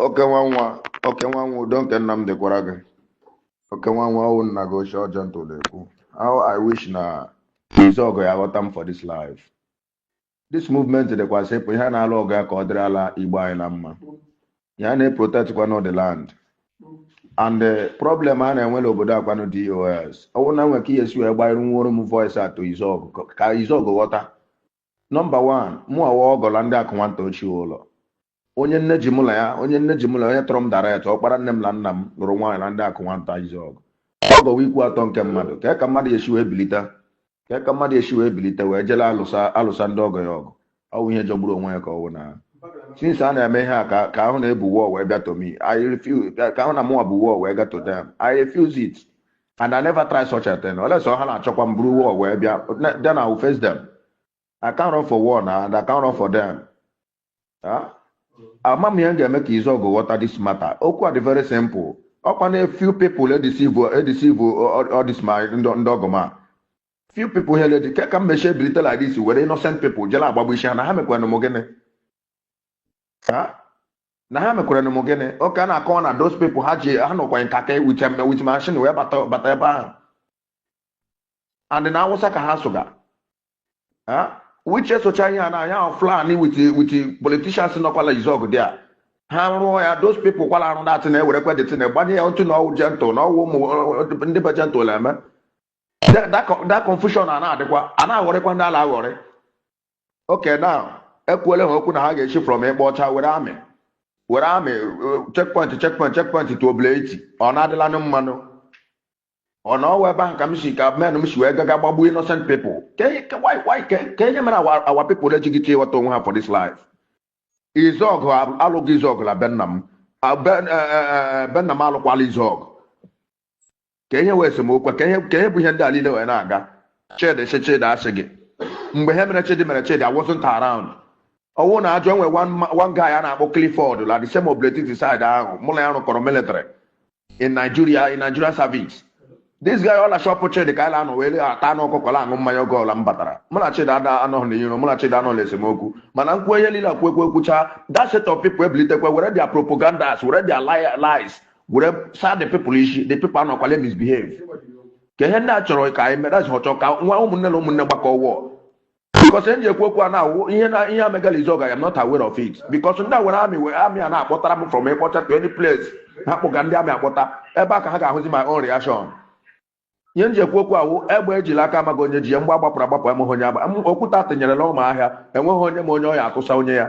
oke nwa nwa oke nwa nwa udo nke nna m dịkwara gị oke nwa nwa ọwụ nna gị ochie Gentle na-ekwu how i wish na Izuọgụ ya ghọta m for this life this movement dịkwa simple ihe a na-alụ ọgụ ya ka ọ dịrị ala igbo anyị na mma ya na-eprotectkwanụ the land and the problem a na-enwe n'obodo akwanụ DOS ọwụ na nwere ka ihe si wee gbanyere nwụrụ m voice out to Izuọgụ ka Izuọgụ ghọta Number one, mụwa wụ ọgọ na Ndị Akụnwanta ochie ụlọ. Onye nne ji mụ na ya, onye nne ji mụ na ya, onye tọrọ m direct, ọkpara nne m na nna m lụrụ nwaanyị na Ndị Akụnwanta Izuọgụ. Ọgọ wụ ikwu atọ nke mmadụ, kee ka mmadụ esi wee bilite, kee ka mmadụ esi wee bilite wee jele alụsa alụsa ndị ọgọ ya ọgụ. Ọ wụ ihe jọgburu onwe ya ka ọ wụ na since a na-eme ihe a ka ka a hụ na e bu war wee bịa to me, I refuse, ka a hụ na mụnwa bu war wee ga to them, I refuse it. and I never try such a thing unless ha na-achọkwa m buru war wee bịa then I will face them I can't run for war now and I can't run for them Ah? ama m ihe m ga-eme ka Izuọgụ ghọta this matter okwu a dị very simple ọkwa na few people edeceive edeceive all this my ndị ndị ọgọ m a few people here lady kee ka m mechie bilite like this were innocent people jela agbagbu isi ha na ha mekwanụ m gịnị Ha? na ha mekwere m gịnị oke a na-akọwa na those people ha ji ha nọkwa nka ka ewuche mme with machine wee bata bata ebe ahụ and na Awụsa ka ha sụga ha wiche socha ihe a na anya ahụ Fulani with with politicians nọkwa la Izuọgụ dị a ha rụọ ya those people kwala arụ datị na-ewerekwa the thing gbanye ya otu na ọwụ Gentle na ọwụ ụmụ ndị be Gentle eme That- that co- that confusion a na-adịkwa a na-aghọrịkwa ndị ala aghọrị okay now ekwuole ha okwu na ha ga-esi from Ikpa Ọcha were army were army checkpoint checkpoint checkpoint to Obinetiti ọ na-adịlanụ mma nụ ọ na ọwụ ebe ahụ ka m si ka men m si wee gaga gbagbuo innocent people ka e- ka- why- why- ka kee ihe mere our our people ejighị chi ịghọta onwe ha for this life Izuọgụ alụga Izuọgụ na be nna m Ah, be- eh, eh, eh, be nna m alụkwala Izuọgụ ka ihe wụ esemokwu ka ihe ka ihe bu ihe ndị a niile wee na-aga chidi si chidi asị gị mgbe ihe mere chidi mere chidi I wasn't around ọwụ na ajọ enwe one ma- one guy a na-akpọ Clifford la the same Obinetiti side ahụ mụ na ya rụkọrọ military in Nigeria in Nigeria service this guy ọ na shop Chidi ka anyị na-anọ wee ata anụ ọkụkọ na aṅụ mmanya oge ọla m batara mụ na chidi ada anọghị n'iro mụ na chidi anọghị n'esemokwu mana m kwu ihe niile kwekwe kwucha that set of people ebilitekwe were their propagandas were their li- lies were saa the people isi the people anọkwale misbehave ka ihe ndị a chọrọ ka anyị mere azụ chọọ ka nwa ụmụnne na ụmụnne gbakọ war because ihe m ji ekwu okwu a na-awụ ihe na ihe emega la Izuọgụ I am not aware of it because ndị a were army wee army a na-akpọtara m from Ikpa Ọcha to any place ha kpụga ndị army akpọta ebe a ka ha ga-ahụzi my own reaction ihe m ji ekwu okwu a wụ egbe e ji l'aka amaghị onye ji ya mgbọ a gbapụrụ agbapụ amaghị onye agba okwute a tụnyere l'ọma ahịa enweghị onye ma onye ọ ya-atụsa onye ya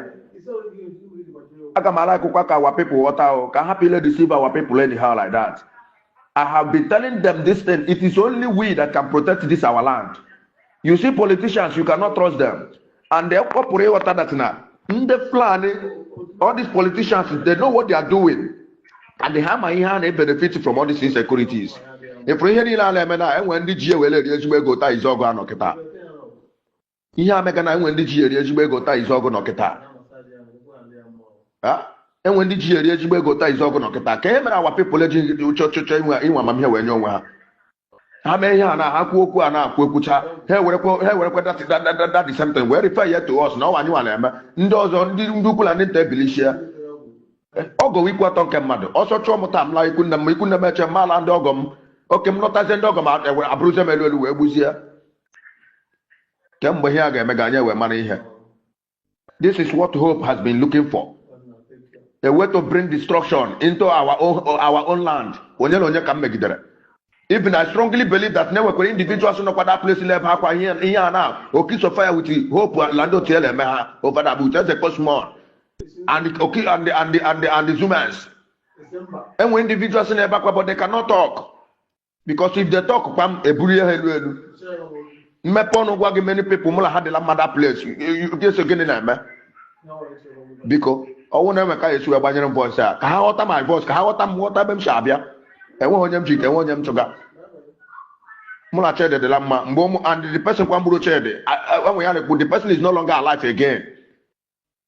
aga m ara akụkwa ka our people ghọta ahụ ka hapụ ịla-edeceive our people anyhow like that I have been telling them this thing. It is only we that can protect this our land. you see politicians you cannot trust them and they pụrụ ịghọta that na ndị fulani all these politicians they know what they are doing and ha ma ihe ha na-ebenefit from all these insecurities ị fụrụ ihe niile a na-eme na enwe ndị ji ewere eri ezigbo ego taa Izuogu a nọ kịta ihe a mega na enwe ndị ji eri ezigbo ego taa Izuogu nọ kịta enwe ndị ji eri ezigbo ego taa Izuogu nọ kịta ka e mere our people eji chọchọchọ inwe amamihe wee nye onwe ha ha mee ihe a na ha kwuo okwu a na-ekwu ekwucha ha ewerekwa that same thing wee refer ya to us na ọ wụ anyịnwa na-eme ndị ọzọ ndị ndị ukwu na ndị nta ebilichie ọgọ wụ ikwu atọ nke mmadụ ọsọ chụọ m taa m laa ikwu nne m ikwu nne m achụ m ala ndị ọgọ m oke m lọtazie ndị ọgọ m eburuzie m elu elu wee gbuzie kemgbe ihe a ga-emega anyị wee mara ihe This is what Hope has been looking for. A way to bring destruction into our own, our own land. Onye na onye ka m megidere. Even I strongly believe that na enwekwara individuals nọkwa that place la-ebe akwa ihe ihe a na Okiso Fire with Hope la ndị otu ya la-eme ha over that with Eze Kosman and the oki and the and the and the and the zumans. Enwe individuals na-ebe akwa but they cannot talk. because if they talk kpam eburu ha elu elu m mepee ọnụ gwa gị many people mụ na ha dị la mma that place eso gịnị na-eme biko ọ wụ na enwe ka e si wee gbanyere m voice a ka ha ghọta my voice ka ha ghọta m ghọta ebe m si abịa enweghị onye m ji ite enwe onye m chụga mụ na Chede dị la mma mgbe ụmụ and the person kwanụ gburu Chede enwe ya na-ekwu the person is no longer alive again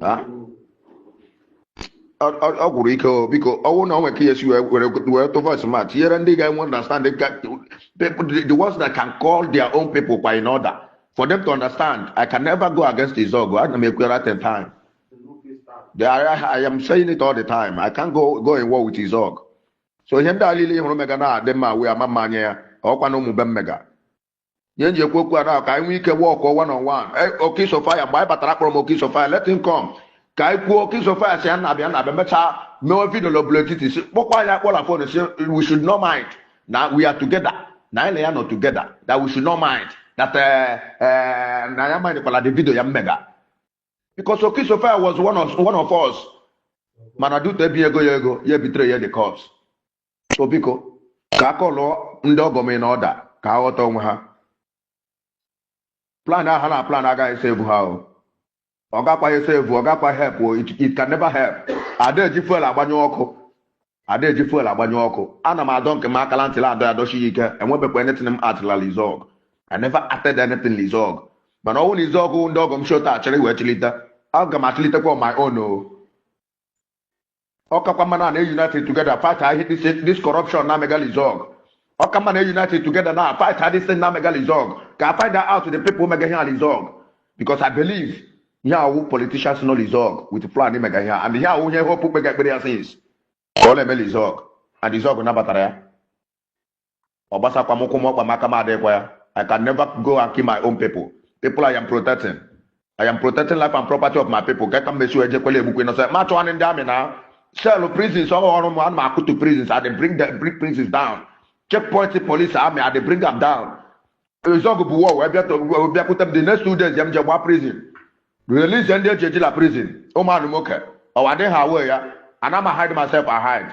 Ah. Ọ- ọ ọ gwụrụ ike o biko ọ wụ na o nwe ka ihe si wee were wee tụ voice m a tinyere ndị ga-enwe understand the, people, the, the ones that can call their own people kwa in order for them to understand I can never go against Izuogu ana m ekwere at a time They are- I, I am saying it all the time I can't go go in war with Izuogu so ihe ndị a niile ị hụrụ mega na-adị mma wee ama mma anya ya ọkwa na ụmụ be m mega ihe m ji ekwu okwu a ka anyị nwee ike work one on one e, Okisofaya mgbe anyị batara akpọrọ m Okisofaya let him come ka anyị kwuo Okisofaya sị ya na-abịa na-abịa mechaa mewe video na Obinetiti si kpọkwa anyị akpọ la phone sị we should not mind na we are together na anyị na ya nọ together that we should not mind that eh, eh, na ya mind kwala the video ya mega because Okisofaya was one of, one of us mana due to ebi ego ya ego ya ebitere ya the cops so biko ka a kọlụọ ndị ọgọ m in order ka ha ghọta onwe ha plan ahụ ha na-plan agaghị save ha o ọ gakwaghị save ọ gakwa help o it, it can never help ada eji fuel agbanyụ ọkụ ada eji fuel agbanyụ ọkụ ana m adọ nke m aka la ntị la adọ ya dọchi ya ike enwebekwa anything m actịla l'Izuọgụ I never acted anything l'Izuọgụ mana ọ wụ na Izuọgụ ndị ọgọ m shota achịrị wee chịlite aga m achịlitekwa on my own o ọ kakwa mma na na-unite together fightịa this, this corruption na-emega l'Izuọgụ ọ ka mma na-unite together na fightịa this thing na-emega l'Izuọgụ ka I find out the people mega ihe a l'Izuọgụ because I believe ihe a wụ politicians nọ l'Izuọgụ with plan mega ihe and ihe a wụ ihe Hope kpega ekpere ya since ka ọ na-eme l'Izuọgụ and Izuọgụ nabatara ya ọ gbasakwa m ụkwụ m ọkpa m aka m adịghịkwa ya i can never go and kill my own people people i am protecting i am protecting life and property of my people ka ka m mesi ejekwela egbukwe nọsọ ma chọwanị ndị amị na cell prisons ọ ọrụ m ana m akụtu prisons i dey bring the bring prisons down checkpoint police army i dey bring am down Izuọgụ bu war wee bịa- wee bịakwute m the next two days ya m je gba prison release ndị e ji eji la prison ụmụ anụ nwoke ọwa dị ha wee ya ana m hide myself ahide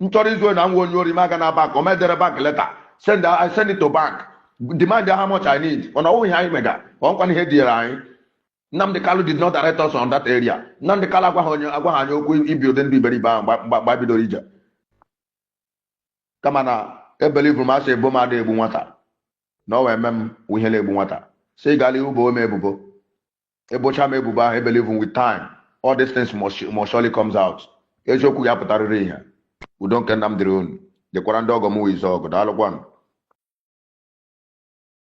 m chọrọ izu ohi na nwa onye ori m aga na bank or m edere bank letter send I send it to bank demand how much I need ọ na ọ wụ ihe anyị mega ọ nkwana ihe diere anyị Nnamdi Kalu did not direct us on that area Nnamdi Kalu agwaghị onye agwaghị anyị okwu ibi ụdị ndụ iberibe ahụ mgbe mgbe- mgbe anyị bidoro ije kama na ebelievuru m asị e bo m ada egbu nwata na ọ wee mee m ihe na-egbu nwata si gala ihu bo m ebubo e bocha m ebubo ahụ I believe with time all these things must, must surely comes out eziokwu ya-apụtarịrị ìhè udo nke nna m dịrị unu dịkwara ndị ọgọ m wụ Izuọgụ daalụkwanụ